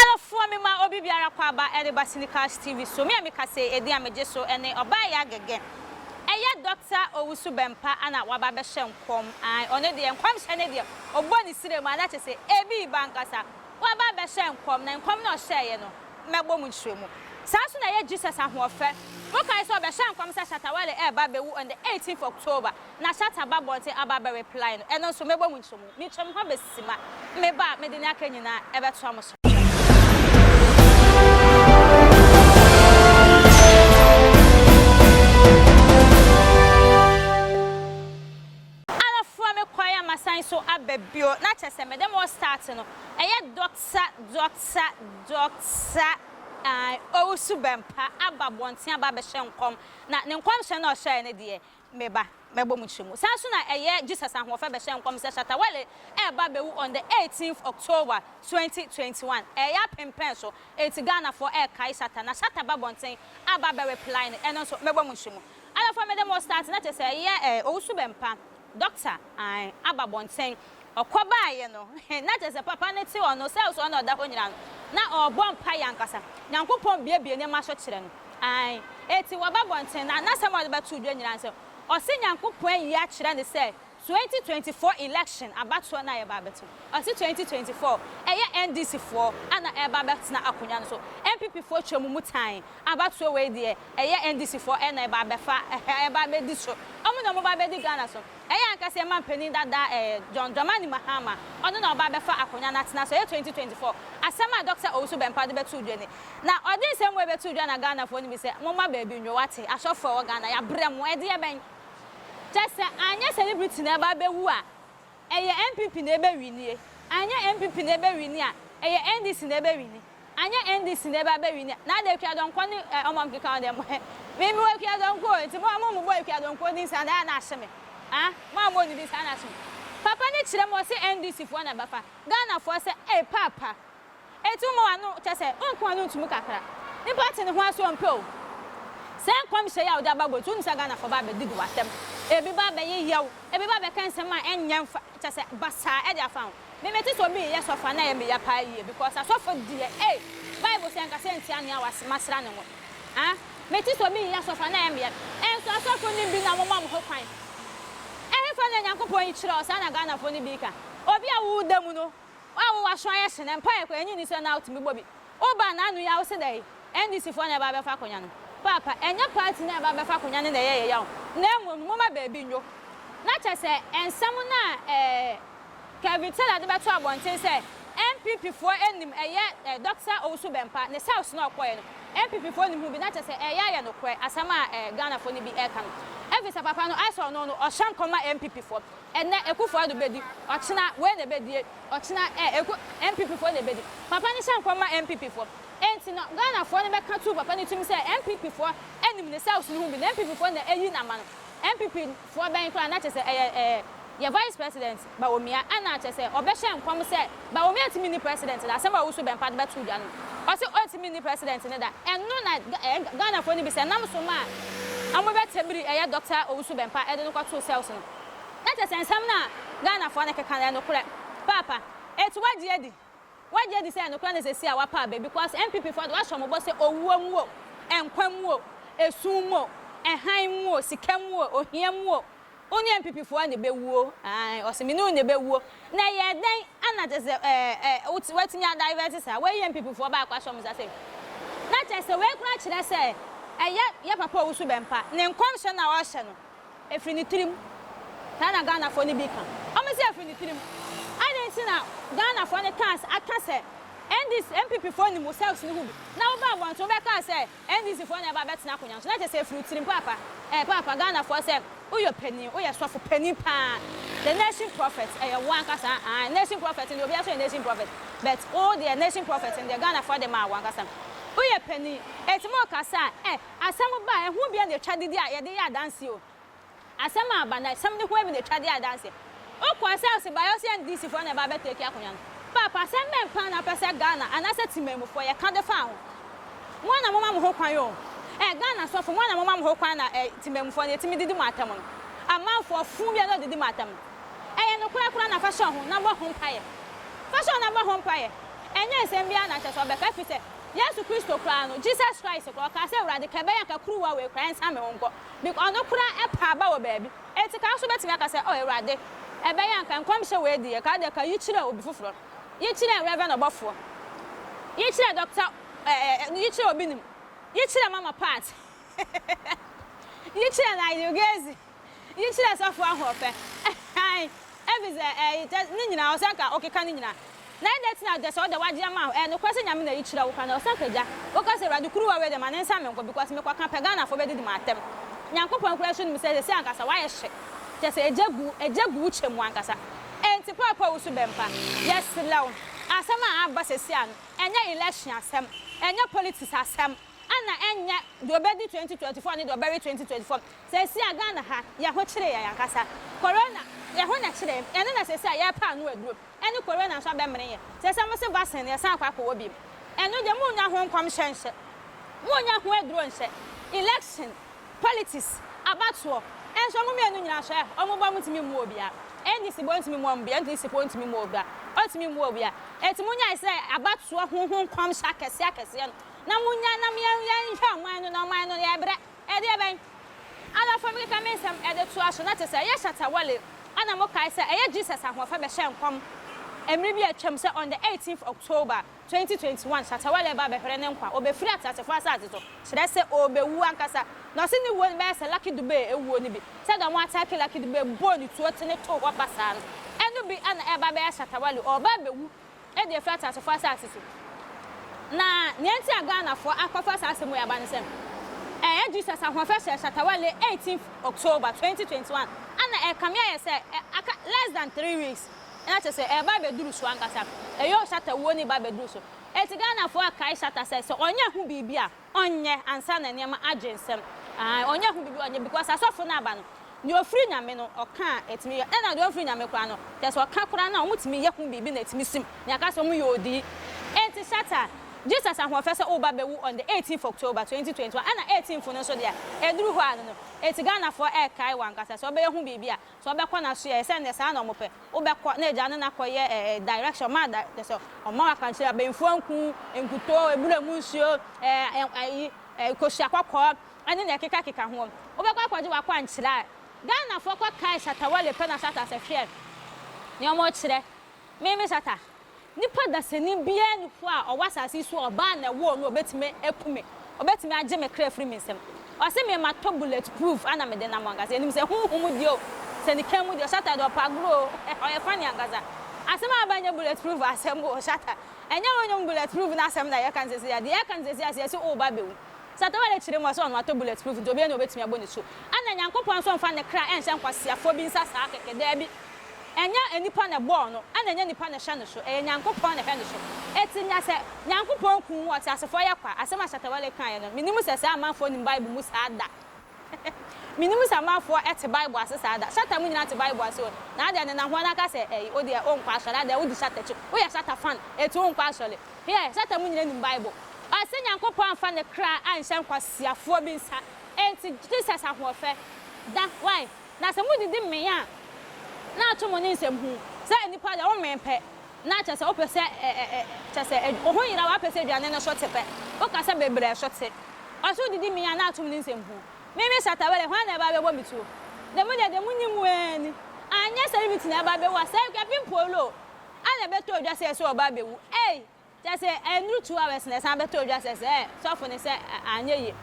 Adɔfoɔ me ma obi biara kɔ aba ɛde ba Cinecast TV so me a me kasee edin a me gye so ɛne ɔbaa ya gɛgɛ ɛyɛ Doctor Owusu Bɛmpa ana waba abɛhyɛ nkɔm ae ɔno deɛ nkɔmhyɛ no deɛ ɔbɔ ne sire mu ana kyese ebi ba ankasa waba abɛhyɛ nkɔm na nkɔm no ɔhyɛɛyɛ no mmɛbɔ mu nkyerɛ mu. Saa nso na ɛyɛ Jesus ahoɔfɛ. Mokae sɛ ɔbɛhyɛɛ nkɔm sɛ Shatta Wale reba abɛwu on the eighteenth October na Shatta aba abɔnten aba abɛ reply no, ɛno nso mɛbɔ mu nkyerɛ mu. Metwam hɔ aba Sima. Meba a, mede nea aka nyinaa ɛbɛtoa mo so. Ara fura me kwan a masan so aba bio na kyɛ sɛ mede mo start no ɛyɛ Doctor Doctor Doctor ae Owusu Bɛmpa aba abɔnten aba abɛhyɛ nkɔm na ne nkɔmhyɛ no a ɔhyɛɛ no deɛ me ba mɛbɔ mu kyerɛ mu saa nso na ɛyɛ Jesus Ahoɔfɛ bɛhyɛ nkɔm sɛ Shatta Wale ɛreba abɛwu on the eighteenth October twenty twenty one ɛyɛ apem pɛn so enti Ghanafoɔ ɛrekae Shatta na Shatta aba abɔnten aba abɛ reply no ɛno nso mɛbɔ mu kyerɛ mu. Ada fa mede mo start na kyesɛ yɛ eh owusu bɛmpa doctor ae aba bɔnten ɔkɔ baa yɛ no eh na kyesɛ papa no te ɔno sɛ ɔsɔre na ɔda hɔ nyina no na ɔɔbɔ mpae ankasa nyankopɔn biebie nneɛma so kyerɛ no ae eti wɔba bɔnten na nasɛm a ɔde bɛto dwa nyina ne sɛ ɔse nyankopɔn ayi akyerɛ no sɛ Twenty twenty four election abatoɔ no a yɛba abɛto ɔse twenty twenty four ɛyɛ NDC foɔ ana ɛreba abɛtena akonwa no so NPP foɔ twa mu mu tan abatoɔ wei deɛ ɛyɛ NDC foɔ ɛna ɛba abɛfa ɛhɛ ɛba abɛdi so ɔmo na ɔmo ba abɛdi Ghana so ɛyɛ ankasa yɛn manpanin dada ɛɛ John Dramani Mahama ɔno na ɔba abɛfa akonwa no atena so ɛyɛ twenty twenty four asɛm a Doctor Owusu Bɛmpa de bɛtoo dwa ni na ɔde nsɛm wei bɛtoo dwa na Ghana foɔ no bi sɛ momma baabi nnwo wate asɔfoɔ a ɛwɔ Ghana yabrɛ mo ɛdeɛ bɛn Kyɛ sɛ anyɛ celebrity na ɛba bɛwu a, ɛyɛ NPP na ɛbɛwinie, anyɛ NPP na ɛbɛwini a, ɛyɛ NDC na ɛbɛwini, anyɛ NDC na ɛba bɛwini a, na adɛn Akua Donkor ne wɔn a wɔkeka ho deɛ mo he? Me mewɔ Akua Donkor o, nti mo a mommobɔ Akua Donkor din saa na ɛyɛ a na ahye me aa, mo a mowɔ ne din saa na ahye me. Papa no kyerɛ mu ɔse NDC foɔ na ɛbɛfa Ghanafoɔ sɛ ei paapa. Enti wommɔ w'ano, kyerɛ sɛ, wonka w'ano nto mu kakra. Nnipa ate ne ho ase a wɔmpɛ o. Saa nkɔmhyɛ yi a wode aba aguadi, wonim sɛ Ghanafoɔ bɛba abɛdidi w'asɛm. Ebi bɛba abɛyeyɛ wo, ebi bɛba abɛka nsɛm a ɛnyɛ mfa, kyerɛ sɛ, basaa de afa ho. Me, mete sɛ obi reyɛ sɔfo a na ɛyɛ me ya paa yie because asɔfo deɛ ei, Bible sɛ nka sɛ ntia nea wase, masra ne ngo. Ah, mete sɛ obi reyɛ asɔfo a na ɛyɛ me ya. Nso asɔfo no bi na wɔma wɔn ho kwan. Ɛhefa na Nyankopɔn yi kyerɛ wo? Saa na Ghanafoɔ no bi reka. Obi a woda mu no, Wo a wowɔ aso ayɛ sene mpaeɛ koraa ɛnye nni sɛ na wotumi bɔ bi. Wo ba n'ano yi a wose dɛn? NDC foɔ na ɛba abɛfa akonya no. Paapa, ɛnyɛ party no a ɛba abɛfa akonya no na ɛyɛ yɛ yaw na mmom no moma baabi nnwo. Na kyerɛ sɛ nsɛm no a eh, Kevin Taylor de bɛto abɔnten sɛ NPP foɔ nnim ɛyɛ eh, Dɔkta Owusu Bɛmpa ne South no a ɔkɔeɛ no NPP foɔ nnim ho bi na kyerɛ sɛ ɛyɛ ayɛ nokorɛ asɛm a eh, Ghana foɔ no bi ɛreka no. Ɛfiri sɛ papa no ayɛ sɛ ɔno no ɔhyɛ nkɔm ma NPP foɔ. Ɛnnɛ Akufo Addo bedi, ɔkyena wei na ebedie, ɔkyena eh, Aku, NPP foɔ na ebedi. Papa no hyɛ nkɔm ma NPP foɔ. Enti no, Ghana foɔ no bɛka tu papa no tirim sɛ NPP foɔ nnim ne cells no ho bi, na NPP foɔ na eyi no ama no. NPP foɔ bɛn koraa na kyɛsɛ ɛyɛ eh, yɛ Vice President, Bawomia, ɛna kyɛsɛ ɔbɛhyɛ nkɔm sɛ Bawomia ntumi nni President da, asɛm a ɔwoso bɛmpa de bɛto dwa no, ɔse ɔntumi nni President no da. Ɛno na Ga, eh, Ghana foɔ no bisa, nam so ma a wɔbɛtɛmiri ɛyɛ Doctor Owusu-Bɛmpa de no kɔtoo cells no. Na kyerɛ sɛ nsɛm no a Ghanafoɔ no keka no yɛ nokorɛ paapa. Eti wagye adi? Wagye adi sɛ ɛyɛ nokorɛ na seesei a wapa aba because NPPfoɔ de wahyɛ wɔn bɔ sɛ owuo mu o, nkwa mu o, esum mu o, hann mu o, sika mu o, ohia mu o, wo ne NPPfoɔ na ɛbɛwuo. Aane, ɔse me ne wo na ɛbɛwuo. Na ɛyɛɛ dɛn na kyerɛ sɛ ɛɛ watumi a divert saa? Wayi NPPfoɔ baako ahyɛ wɔn nsa sei. Na kyerɛ sɛ wei koraa kyerɛ sɛ ɛyɛ yɛ papa a ɔwusu bɛmpa ne nkɔmhyɛ no a ɔrehyɛ no. Ɛfiri ne tirim. Saa na Ghanafoɔ no bi ka. Wɔse ɛfiri ne tirim. Adɛn nti na Ghanafoɔ no kaa sɛ, aka sɛ NDC, NPP foɔ nim wo cells no ho bi. Na wobaa abɔnten wobɛkaa sɛ NDC foɔ na ɛbaa bɛtena akonwa no so. Na kyerɛ sɛ ɛfiri wo tirim paapa. Ɛɛ paapa Ghanafoɔ sɛ woyɔ panin, woyɛ sɔfo panin paa. The nation prophet, ɛyɛ wo ankasa aane. Nation prophet no deɛ obiara nso yɛ nation prophet. But wo deɛ nation prophet no deɛ Ghanafoɔ de maa wo ankasa. Woyɛ panin, ɛti mo kasa a, eh. Asɛm ba a, ɛho bi na ɛtwa dede a yɛde yɛ adanseɛ o. Asɛm a aba no, asɛm no ho bi na ɛtwa de yɛ adanseɛ. Wokɔ sɛ ɔse bayɛ ɔse NDCfoɔ na ɛba abɛ take akonwa no. Paapa, asɛm bɛn paa na wopɛ sɛ Ghana anaasɛ Temanmufoɔ yɛka de fa ho? Mo ara na moma mo ho kwan o. Ɛɛ Ghana sɔfo, mo ara na moma mo ho kwan na ɛɛ Temanmufoɔ no ɛtumi didi mo atɛm no. Amanfoɔ fuu bi a na ɔdidi mo atɛm no. Ɛyɛ nokorɛ koraa na fa hyɛ wo ho na bɔ ho mpaeɛ. Fa hyɛ wo ho na bɔ ho mpaeɛ. Ɛnyɛ nsɛm biara na kyerɛ sɛ ɔbɛka ɛfiri sɛ, Yesu Kristo koraa no, Jesus Christ koraa, ɔkaa sɛ, Awurade, ka ɛbɛyɛ anka kuruwa wei koraa nsan me ho nkɔ. Bec ɔno koraa ɛpaa ba wɔ baabi. Enti ka nso bɛtumi aka sɛ, Oh, Awurade, ɛbɛyɛ anka nkɔmhyɛ wei deɛ, ka deɛ ka yi kyerɛ obi foforɔ. Yi kyerɛ Reverend ɔbɔfoɔ. Yi kyerɛ Doctor eh, eh, eh, yi kyerɛ obi nim. Yi kyerɛ Mama Pat. Yi kyerɛ Nigel Gezi. Yi kyerɛ sɔfo ahoɔfɛ. Ae, ebi sɛ, eh, yi kyɛ, ne nyinaa, ɔsɛ anka ɔkeka ne nyinaa. Na ɛdɛ ti na ɔdɛ sɛ ɔdɛ wagye ama ho, eh, nokorɛ sɛ Nyame na yi kyerɛ wo kwan, ɔsɛ anka gya, woka sɛ Awurade kuruwa wei deɛ ma ne nsa me nko, because me kɔ ka pɛ Ghanafoɔ bɛ didi mo atɛm. Nyankopɔn koraa nso nim sɛ sɛsɛ ankasa wayɛ hye, kyɛ sɛ egya gu, egya gu wo kyɛ mu ankasa. Enti Paul pɛ wo so bɛ mpa, yɛ serɛ wo, asɛm a aba sɛsɛ a no, ɛnyɛ election asɛm, ɛnyɛ politics asɛm, ɛna ɛnyɛ deɛ ɔbɛdi 2024 ne deɛ ɔbɛwe 2024, Seesei a Ghana ha, yɛn ho kyere yɛn ankasa. Corona, yɛn ho na ɛkyere yɛn. Ɛno na seesei a yɛrepɛ ano aduro. Ɛne Corona nso abɛmene yɛn. Seesei wɔse vaccine no, yɛsan akɔ akɔwɔ bio. Ɛno deɛ, monnya ho nkɔmhyɛ nhyɛ. Monnya ho aduro nhyɛ. Election, politics, abatoɔ, nso wɔn mmienu nyinaa nso ɛ? Wɔn bɔ wɔntumi mmu obiara. NDC bɔ ntumi mmoa wɔn biara. NDC foɔ ntumi mmu obiara. Wɔntumi mmu obiara. Enti monyae sɛ abatoɔ ho ho nkɔmhyɛ akɛseɛ akɛseɛ no, na monyae na yɛnhwɛ ɔman no, na ɔman no, yɛrebrɛ. Ɛdeɛbɛn? Adɔfoɔ bi keka me nsɛm de toa so, na te sɛ ɛyɛ Shatta Wale a na mokae sɛ ɛyɛ Jesus ahoɔfɛ bɛhyɛɛ nkɔm mmere bi a atwam sɛ on the eighteenth October, twenty twenty one Shatta Wale reba abɛhwere ne nkwa, ɔbɛfiri ateasefoɔ asase so, kyerɛ sɛ ɔrebɛwu ankasa. Na ɔse ne wuo no bɛyɛ sɛ Lucky Dube wuo no bi, sɛdeɛ wɔn attack Lucky Dube bɔɔ ne tuo tene too hɔ basaa no, ɛno bi na ɛreba abɛyɛ Shatta Wale, ɔreba abɛwu. de afiri ateasefoɔ asase so. Na nea nti a Ghanafoɔ akɔfa saa asɛm wei aba ne sɛ, ɛyɛ Jesus ahoɔfɛ hyɛ Shatta Wale 18th October 2021 a na ɛrekame ayɛ sɛ aka less than three weeks na kyerɛ sɛ ɛreba abɛduru so ankasa. Eyoo Shatta wuo no reba abɛduru so. Enti Ghanafoɔ akae Shatta sɛ, sɛ ɔnyɛ ho biribi a, Ɔnyɛ ansa na nneɛma agye nsɛm aah ɔnyɛ ho biribi ɔnyɛ because asɔfo no aba no nea ofiri nyame no ɔka a ɛtumi yɛ ɛna deɛ ɔnfiri nyame koraa no kyerɛ sɛ ɔka koraa no a ɔmo tumi yɛ ho biribi na ɛtumi sim nea ɛka sɛ ɔmo yɛ odii ɛnti Satan Jesus ahoɔfɛ sɛ woba bɛwu on the 18th October 2021 ɛna 18th no nso deɛ ɛduru hɔ a no no ɛnti Ghanafoɔ ɛɛkae wankasa sɛ ɔbɛyɛ ho biribi a Sɛ ɔbɛkɔ na so yɛ sɛ nɛ saa na ɔmo pɛ wobɛkɔ na agya no na kɔ yɛ eh direction ɔma da kyɛ sɛ ɔma wo akwankyerɛ abenfoɔ nku nkutoo ebura mu nsuo eh eh ayi eh kosua kɔkɔɔ ɛne nɛ ɛkeka keka ho wobɛkɔ akɔgye wakwankyerɛ a Ghanafoɔ kɔ kae shatawale pɛ na shatta sɛ hwɛ nea ɔmo kyerɛ. Me me sata. Nipa dasani biara nni hɔ a ɔwɔ asase yi so a ɔbaa na ɛwoo no a ɔbɛtumi aku me, ɔbɛtumi agye me kra afiri me nsam. Ɔse me matɔ bullet proof ana mede nam ankasa yɛnim sɛ honhom deɛ o, sɛ ne kan mu deɛ o, sata deɛ ɔpɛ agorɔ o, eh ɔyɛ funny ankasa. Asɛm a aba nyɛ bullet proof asɛm o, sata. Ɛnyɛ honhom bullet proof no asɛm na yɛka no seesei a, deɛ yɛka no seesei a sɛ yɛse woba bɛwu, Sɛ atawar rekyere mu a, sɛ ɔno atɔ bullet proof nti, obiara nni hɔ a obetumi abɔ ne su. Ɛnna Nyankopɔn nso mfa ne kra nhyɛ nkwaseafoɔ bi nsa saa kɛkɛ. Dabi. Ɛnyɛ nnipa na ɛbɔɔ no, ɛnna ɛnyɛ nnipa na ɛhyɛ no so. Ɛyɛ Nyankopɔn na ɛhyɛ no so. Enti na sɛ Nyankopɔn kum wo a, ɔteasefoɔ yɛ kwa. Asɛm a Shatta Wale kaeɛ no, mennim sɛ saa amanfoɔ nim Bible mu saa da. Minnim sɛ amanfoɔ te Bible ase saa da. Shatta mu nyinaa te Bible ase o. Na adɛn ne na hoana ka sɛ ɛyi wodeɛ onkɔ asɔre adɛn wodi Shatta akyi woyɛ Shatta fan enti wonkɔ asɔre heɛ Shatta mu nyinaa nim Bible. Ɔse Nyankopɔn amfa ne kra anhyɛ nkwasiafoɔ bi nsa enti Jesus ahoɔfɛ da wai na sɛ modidi mmee a na ato mo ne nsɛm huu sɛ nnipa deɛ wo mmee pɛ Na kyerɛ sɛ wopɛ sɛ ɛ ɛ ɛ kyerɛ sɛ ɛ wo ho yeraw ara pɛ sɛ aduane no so te pɛ. Woka sɛ bebree a ɛso te. Ɔse wodidi me yi a na atom ne nsɛm hu. Me me Shatta Wale hwan na ɛba abɛbɔ me tuo? Deɛ mo deɛ deɛ mo nim waa ni. Anyɛ celebrity na ɛba abɛwu a sɛ Kwapin Polo a na ɛbɛtɔ dwa sɛ ɛso ɔba abɛwu ei. Kyerɛ sɛ ɛnnuru two hours na ɛsan bɛtɔ dwa sɛ sɛ sɔfo no sɛ anyɛ yie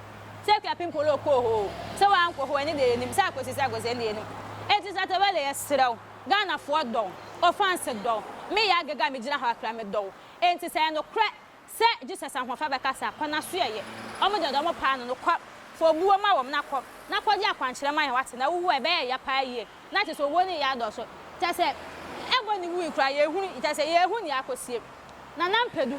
sɛ Kwapin Polo kɔɔ hɔ o sɛ wankɔ hɔ o ɛno deɛ yɛnim sɛ akɔsi sɛ akɔsi ɛno deɛ yɛnim. Enti Shatta Wale yɛsrɛ wo. Ghanafoɔ dɔ wo, wo fans dɔ wo, me yɛ agege a megyina hɔ akra me dɔ wo, enti sɛ ɛyɛ nokorɛ sɛ Jesus ahoɔfɛ bɛkasa kɔ na so ɛyɛ wɔn deɛ ɔde wɔn paa no no kɔ fa obuo ma wɔn na kɔ na kɔgye akwankyerɛ ma yɛn wate na wowu a ɛbɛyɛ ya paa yie na kyɛsɛ owuo no yɛ adɔɔso kyɛsɛ ɛbɔ ne wui koraa yɛhunu kyɛsɛ yɛhu neɛ akɔsie Nana Mpedu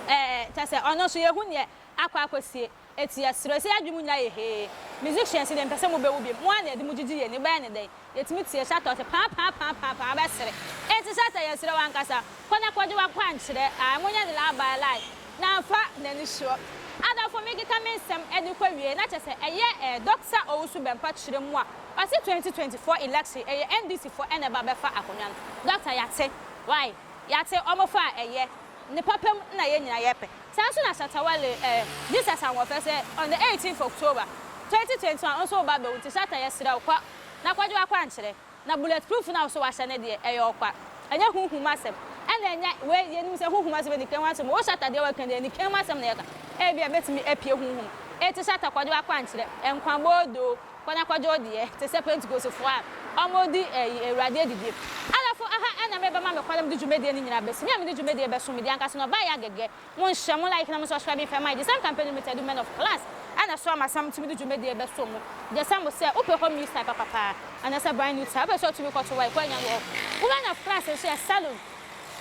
ɛɛ kyɛsɛ ɔno nso yɛhu neɛ akɔ akɔsie. Etia serɛ sɛ yadwen mu nyinaa yɛ hee musicians deɛ mepɛ sɛ mo bɛwu biom mo ara na yɛde mo gyegye yɛn ani wobɛyɛ ne dɛn yɛtumi tie hyɛ atɔ sɛ paapaapaapaapaa wobɛsere enti hyɛ sɛ yɛsrɛ wo ankasa kɔ na kɔgye wakwankyerɛ ae monyɛ ne laabae like na mfa nani soɔ adɔfo mekeka me nsɛm de kɔ awiei na kyɛ sɛ ɛyɛ eh Doctor Owusu Bɛmpa kyerɛ mu a ɔse 2024 election ɛyɛ NDC foɔ na ɛba bɛfa akonwa no Doctor yɛate wai yɛate ɔmo faa ɛyɛ Ne papa mu na yɛn nyinaa yɛpɛ. Saa nso na Shatta Wale ɛ, Jesus Ahoɔfɛ sɛ on the eighteenth October, twenty twenty one wo nso woba abɛwu nti Shatta yɛsrɛ wo kɔ na kɔgye w'akwankyerɛ na bullet proof no a wo nso wahyɛ no deɛ ɛyɛ ɔkwa ɛnyɛ huhum asɛm ɛna ɛnyɛ wei yɛnim sɛ huhum asɛm ɛni kɛn ho asɛm wo Shatta deɛ woaka deɛ ɛni kɛn ho asɛm na yɛka ebia ɛbɛtumi apue huhum enti Shatta kɔgye w'akwankyerɛ nkwa boodoo. Kwana kwadwo deɛ te sɛ pentekosefoɔ a ɔmo di ɛyi awurade adidie alafo aha ɛna me bɛma me kɔla mede dwumadie no nyinaa bɛsi me a mede dwumadie bɛso me deɛ anka sɛ na ɔbaa yɛ agɛgɛ mo nhyɛ mo like na mo subscribing fɛ my gyesam company limited women of class ɛna soa masam tumi de dwumadie bɛso mo gyesam mo sɛ wopɛ home use type papapaa anasɛ brand new type wopɛ sɛ ɔtumi kɔto wa ɛkɔ anya wɔ hɔ women of class nso yɛ salon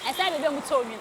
ɛsɛ baabi a ɔmo tɔ onwin.